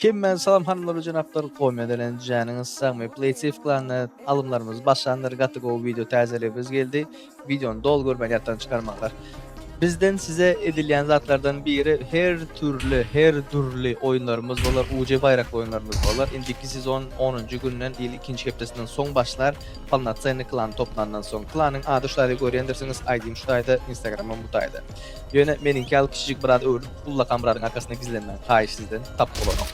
Hemmäňize salam hanymlar we jenaplar, goýma edilen janyňyz sag, men PlaySafe klanynda alymlarymyz başlandyr, gaty gowy video täzeligimiz geldi. Videony doly görmän ýatdan çykarmaňlar. Bizden size edilýän zatlardan biri her türli, her dürli oýunlarymyz bolar, UC baýrakly oýunlarymyz bolar. Indiki sezon 10-njy günden, ýyl ikinji hepdesinden soň başlar. Polnocenny klan toplandan soň. Klanyň ady şu taýda görýändirsiňiz, ID-ýim şu taýda, Instagram-ym bu taýda. Ýöne meniňki ýaly kiçijik biraz öwrülip Ulla kamradyň arkasynda gizlenmäň haýyş sizden tap bolanok.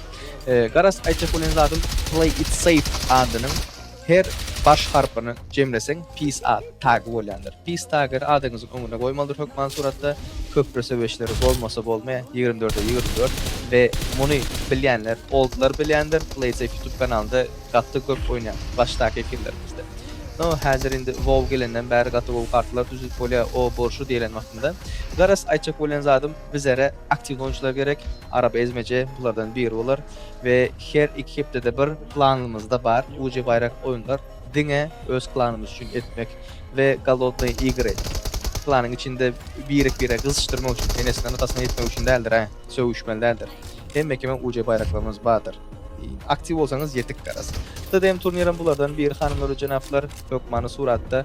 Garaz aýtjak bolýan zadym play it safe adynyň her baş harpyny jemleseň peace ad tagy bolýandyr. Peace tagyny adyňyzyň öňüne goýmalydyr hökman suratda. Köpri söweşleri bolmasa bolmaýar 24-e 24 we muny bilýänler oldlar bilýändir play it safe youtube kanalynda gaty köp oýnaýan başdaky efirlerimizde. No häzir indi wow gelenden bäri gaty gowy kartalar düzülip bolýar o borşy diýlen wagt. Onda garaz aýtjak bolýan zadym bizere aktiw gonçylar gerek, araba ezmeje bulardan biri bolar we her iki hepdede bir planymyzda bar uje baýrak oýunlar diňe öz klanymyz üçin etmek we golodnoý igry klanyň içinde birek bire gyzyşdyrmak üçin enesinden atasyna ýetmek üçin däldir a sögüşmeli däldir hemme kime uje baýraklarymyz bardyr aktiw bolsaňyz ýetik garaz TDM turnirem bulardan biri hanymlar we jenaplar hökmany suratda